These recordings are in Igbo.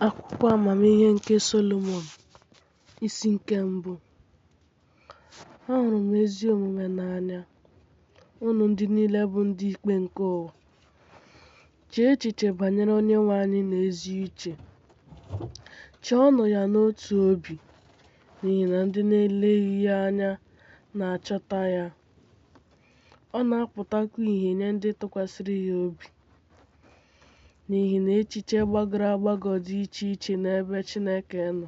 Akwụkwọ amamihe nke Solomọn isi nke mbụ ahụrụ m ezi omume n'anya unu ndị niile bụ ndị ikpe nke ụwa chee echiche banyere Onyenwe anyị n'ezi uche chọọnụ ya n'otu obi n'ihi na ndị na-eleghị ya anya na-achọta ya ọ na-apụtakwa ìhè nye ndị tụkwasịrị ya obi N'ihi na echiche gbagọrọ agbagọ dị iche iche n'ebe Chineke nọ.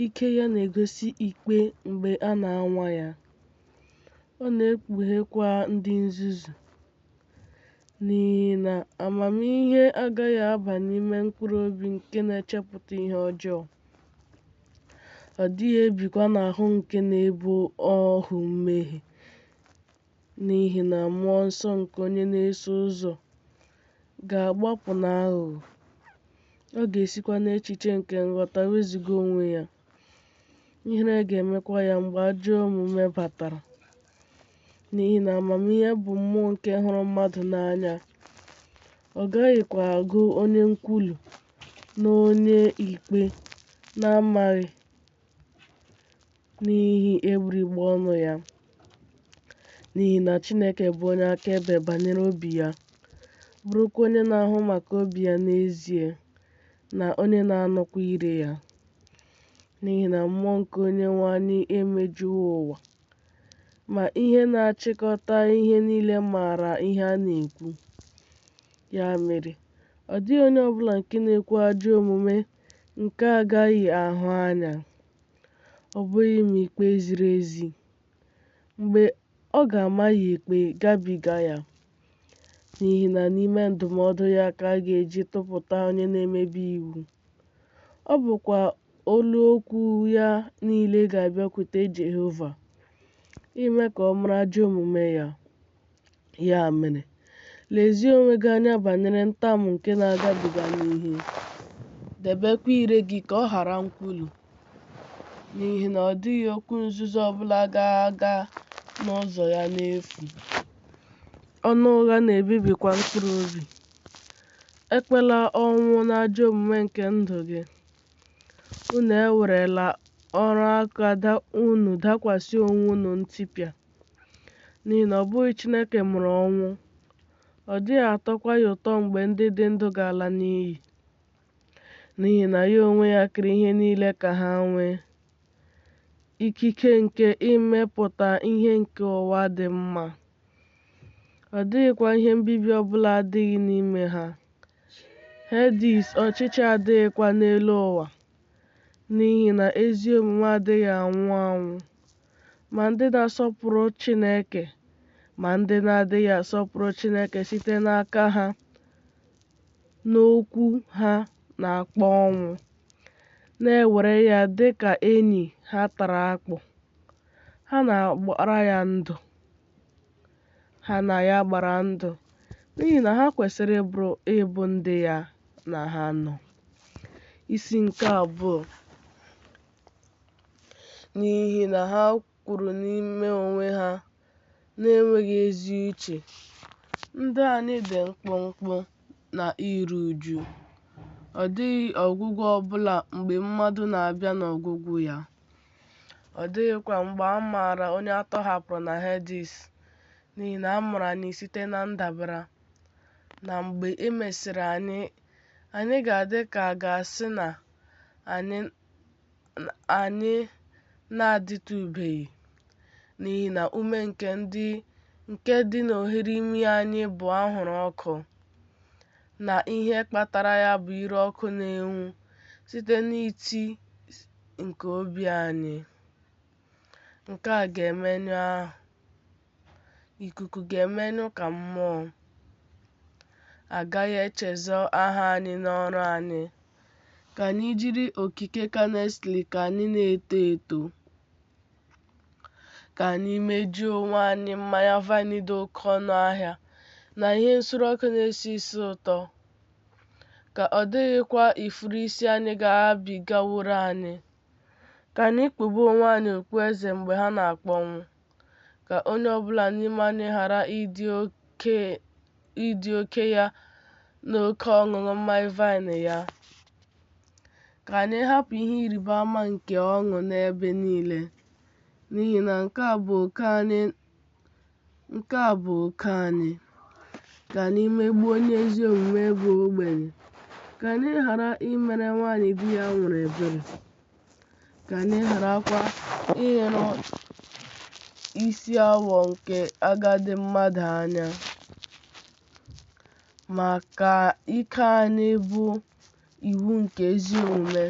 Ike ya na-egosi ikpe mgbe a na-anwa ya. Ọ na-ekpughekwa ndị nzuzu. N'ihi na amamihe agaghị aba n'ime mkpụrụ obi nke na-echepụta ihe ọjọọ. Ọ dịghị ebikwa n'ahụ nke na-abụ ohu mmehie. N'ihi na mmụọ nsọ nke onye na-eso ụzọ ga-agbapụ n'aghụghọ, ọ ga-esikwa n'echiche nke nghọta wezụga onwe ya, ihere ga-emekwa ya mgbe ajọ omume batara. N'ihi na amamihe bụ mmụọ nke hụrụ mmadụ n'anya, ọ gaghịkwa agụ onye nkwulu na onye ikpe na-amaghị n'ihi egbugbere ọnụ ya n'ihi na Chineke bụ onye akaebe banyere obi ya bụrụkwa onye na-ahụ maka obi ya n'ezie na onye na-anụkwa ire ya n'ihi na mmụọ nke Onyenwe anyị emejuwo ụwa ma ihe na-achịkọta ihe niile maara ihe a na-ekwu ya mere ọ dịghị onye ọbụla nke na-ekwu ajọ omume Nke agaghị ahụ anya, ọ bụghị ma ikpe ziri ezi, mgbe ọ ga-ama ya ikpe gabiga ya, n'ihi na n'ime ndụmọdụ ya ka a ga-eji tụpụta onye na-emebi iwu. Ọ bụkwa olu okwu ya niile ga-abịakwute Jehova, ime ka ọ mara ajọ omume ya. Ya mere, lezie onwe gị anya banyere ntamu nke na-agabiga n'ihe, debekwa ire gị ka ọ ghara nkwulu, n'ihi na ọ dịghị okwu nzuzo ọ bụla ga-aga n'ụzọ ya n'efu. Ọnụ ụgha na-ebibikwa mkpụrụ obi. Ekpela ọnwụ n'ajọ omume nke ndụ gị. Unu ewerela ọrụ aka unu dakwasị onwe unu ntipịa. N'ihi na ọ bụghị Chineke mụrụ ọnwụ, ọ dịghị atọkwa ya ụtọ mgbe ndị dị ndụ ga-ala n'iyi. N'ihi na ya onwe ya kere ihe niile ka ha nwee ikike nke imepụta ihe nke ụwa dị mma. Ọ dịghịkwa ihe mbibi ọ bụla adịghị n'ime ha. Hedis ọchịchị adịghịkwa n'elu ụwa, n'ihi na ezi omume adịghị anwụ anwụ. ma ndị na-asọpụrụ Chineke ma ndị na-adịghị asọpụrụ Chineke site n'aka ha n'okwu ha na-akpọ ọnwụ, na-ewere ya dị ka enyi ha tara akpụ. Ha na-agbara ya ndụ. Ha na ya gbara ndụ n'ihi na ha kwesịrị ịbụrụ ịbụ ndị ya na ha nọ. Isi nke abụọ n'ihi na ha kwuru n'ime onwe ha na-enweghị ezi uche, Ndụ anyị dị mkpụmkpụ na iru uju. Ọ dịghị ọgwụgwụ ọ bụla mgbe mmadụ na-abịa n'ọgwụgwụ ya. Ọ dịghịkwa mgbe a maara onye a tọhapụrụ na Hedis, n'ihi na a mụrụ anyị site na ndabara. Na mgbe e mesịrị anyị, anyị ga-adị ka a ga-asị na anyị anyị na-adịtụbeghị n'ihi na ume nke ndị nke dị n'oghere imi anyị bụ anwụrụ ọkụ na ihe kpatara ya bụ ire ọkụ na-enwu site n'iti nke obi anyị Nke a ga-emenyụ ahụ. Ikuku ga-emenyụ ka mmụọ. A gaghị echezọ aha anyị n'ọrụ anyị. Ka anyị jiri okike ka earnestly ka anyị na-eto eto. Ka anyị mejuo onwe anyị mmanya vaịn dị oke ọnụ ahịa na ihe nsure ọkụ na-esi isi ụtọ. Ka ọ dịghịkwa ifuru isi anyị ga-agabigaworo anyị. Ka anyị kpube onwe anyị okpueze mgbe ha na-akpọnwụ, ka onye ọ bụla n'ime anyị ghara ịdị oke ya na oke ọṅụṅụ mmanya vaịn ya. Ka anyị hapụ ihe ịrịba ama nke ọṅụ n'ebe niile, n'ihi na nke a bụ oke anyị Nke a bụ oke anyị, ka anyị megbuo onye ezi omume bụ ogbenye, ka anyị ghara imere nwaanyị di ya nwụrụ ebere, ka anyị gharakwa ileru isi awọ nke agadi mmadụ anya, ma ka ike anyị bụ iwu nke ezi omume,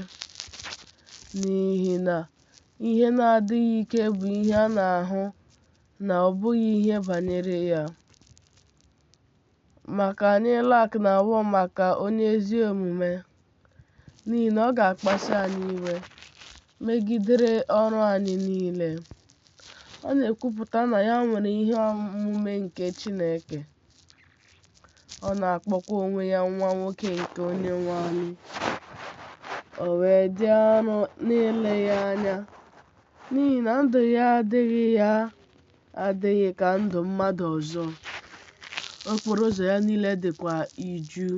n'ihi na ihe na-adịghị ike bụ ihe a na-ahụ na ọ bụghị ihe banyere ya. Ma ka anyị lak na awọ maka onye ezi omume, n'ihi na ọ ga-akpasu anyị iwe megidere ọrụ anyị niile. Ọ na-ekwupụta na ya nwere ihe omume nke Chineke. ọ na-akpọkwa onwe ya nwa nwoke nke onye nwe anyị o wee dị arụ n'ile ya anya n'ihi na ndụ ya adịghị ya adịghị ka ndụ mmadụ ọzọ okporo ụzọ ya niile dịkwa iju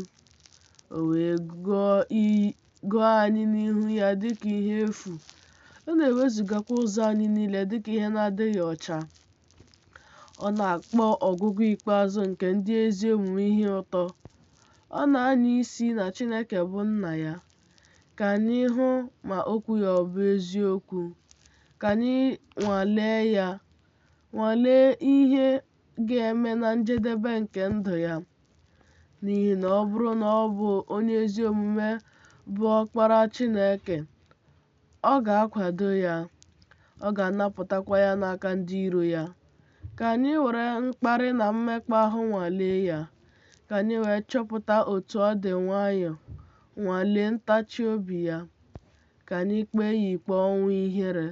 o wee gụọ anyị n'ihu ya dịka ihe efu ọ na-ewezugakwa ụzọ anyị niile dịka ihe na-adịghị ọcha Ọ na-akpọ ọgụgụ ikpeazụ nke ndị ezi omume ihe ụtọ. Ọ na-anya isi na Chineke bụ Nna ya. Ka anyị hụ ma okwu ya ọ bụ eziokwu. Ka anyị nwalee ya, nwalee ihe ga-eme na njedebe nke ndụ ya. N'ihi na ọ bụrụ na ọ bụ onye ezi omume bụ Ọkpara Chineke, Ọ ga-akwado ya, ọ ga-anapụtakwa ya n'aka ndị iro ya. Ka anyị were mkparị na mmekpa ahụ nwalee ya, ka anyị wee chọpụta otu ọ dị nwayọọ, nwalee ntachi obi ya. Ka anyị kpee ya ikpe ọnwụ ihere,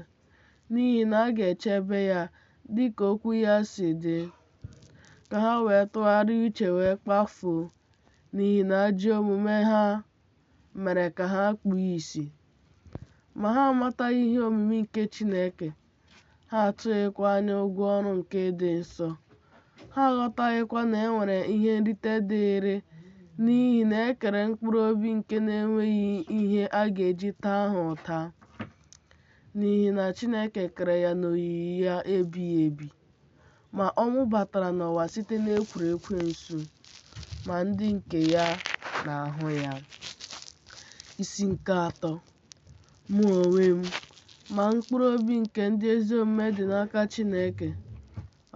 n'ihi na a ga-echebe ya dị ka okwu ya si dị. Ka ha wee tụgharịa uche wee kpafuo, n'ihi na ajọ omume ha mere ka ha kpuo isi. Ma ha amataghị ihe omimi nke Chineke, ha atụghịkwa anya ụgwọ ọrụ nke ịdị nsọ. Ha aghọtaghịkwa na e nwere ihe nrite dịịrị n'ihi na e kere mkpụrụ obi nke na-enweghị ihe a ga-eji taa ha ụta, n'ihi na Chineke kere ya n'oyiyi ya ebighị ebi. Ma ọnwụ batara n'ụwa site n'ekworo ekwensu, ma ndị nke ya na-ahụ ya. Isi nke atọ Mụ onwe m, ma mkpụrụ obi nke ndị ezi omume dị n'aka Chineke,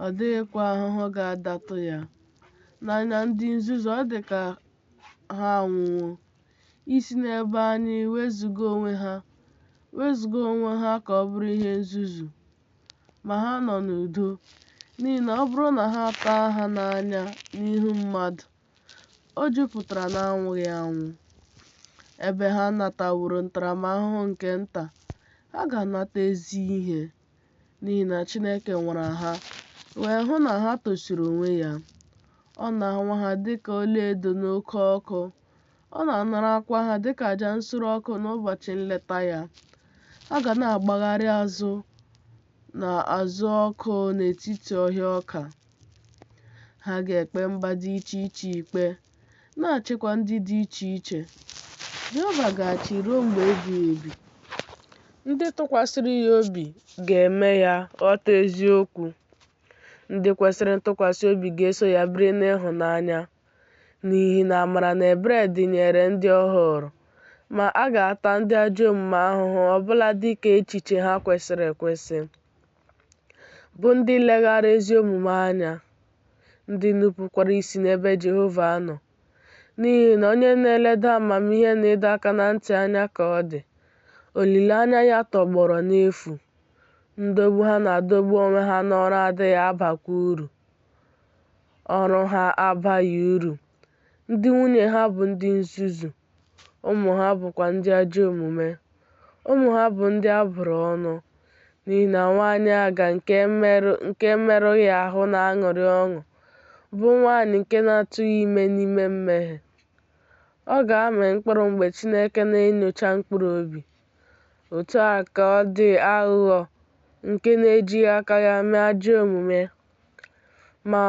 ọ dịghịkwa ahụhụ ga-adatụ ya. N'anya ndị nzuzu, ọ dị ka ha anwụwo isi n'ebe anyị wezuga onwe ha, wezuga onwe ha ka ọ bụrụ ihe nzuzu ma ha nọ n'udo, n'ihi na ọ bụrụ na ha taa ha n'anya n'ihu mmadụ, o jupụtara n'anwụghị anwụ. Ebe ha nataworo ntaramahụhụ nke nta, ha ga-anata ezi ihe, n'ihi na Chineke nwara ha, wee hụ na ha tosiri onwe ya. Ọ na-anwa ha dịka ọlaedo n'oke ọkụ, Ọ na-anarakwa ha dịka aja nsure ọkụ n'ụbọchị nleta ya. Ha ga na-agbagharị azụ na azụ ọkụ n'etiti ọhịa ọka. Ha ga-ekpe mba dị iche iche ikpe, na-achịkwa ndị dị iche iche. Jehova ga-achị ruo mgbe ebighị ebi. Ndị tụkwasịrị ya obi ga-eme ya ghọta eziokwu. Ndị kwesịrị ntụkwasị obi ga-eso ya biri n'ịhụnanya. n'ihi na amara na ebere dịnyeere ndị ọ họọrọ. Ma, a ga-ata ndị ajọ omume ahụhụ ọ bụla dị ka echiche ha kwesịrị ekwesị, bụ ndị leghaara ezi omume anya, ndị nupụkwara isi n'ebe Jehova nọ. N'ihi na onye na-eleda amamihe na ịdọ aka na ntị anya ka ọ dị, olileanya ya tọgbọrọ n'efu, ndọgbu ha na-adọgbu onwe ha n'ọrụ adịghị abakwa uru. ọrụ ha abaghị uru, ndị nwunye ha bụ ndị nzuzu, ụmụ ha bụkwa ndị ajọ omume. Ụmụ ha bụ ndị a bụrụ ọnụ, n'ihi na nwanyị aga nke e merụghị ahụ na-aṅụrị ọṅụ, bụ nwanyị nke na-atụghị ime n'ime mmehie. Ọ ga-amị mkpụrụ mgbe Chineke na-enyocha mkpụrụ obi. Otu a ka ọ dị aghụghọ nke na-ejighị aka ya mee ajọ omume. Ma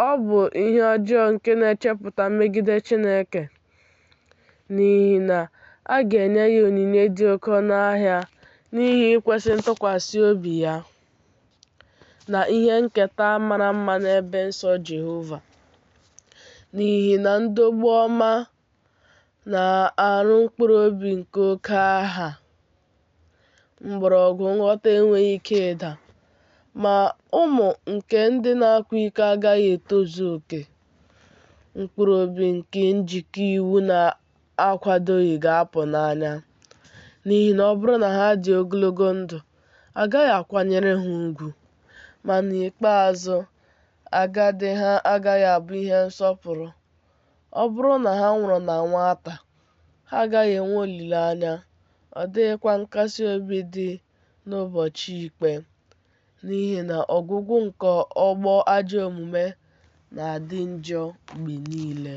ọ bụ ihe ọjọọ nke na-echepụta megide Chineke, n'ihi na a ga-enye ya onyinye dị oke ọnụ ahịa n'ihi ikwesị ntụkwasị obi ya na ihe nketa mara mma n'ebe nsọ Jehova. N'ihi na ndọgbu ọma na-arụ mkpụrụ obi nke oke aha. Mgbọrọgwụ nghọta enweghị ike ịda, ma ụmụ nke ndị na-akwa iko agaghị etozu oke. Mkpụrụ obi nke njikọ iwu na-akwadoghị ga-apụ n'anya, n'ihi na ọ bụrụ na ha dị ogologo ndụ, a gaghị akwanyere ha ugwu, ma n'ikpeazụ, agadi ha agaghị abụ ihe nsọpụrụ. Ọ bụrụ na ha nwụrụ na nwata, Ha agaghị enwe olileanya, ọ dịghịkwa nkasi obi dị n'ụbọchị ikpe, n'ihi na ọgwụgwụ nke ọgbọ ajọ omume na-adị njọ mgbe niile.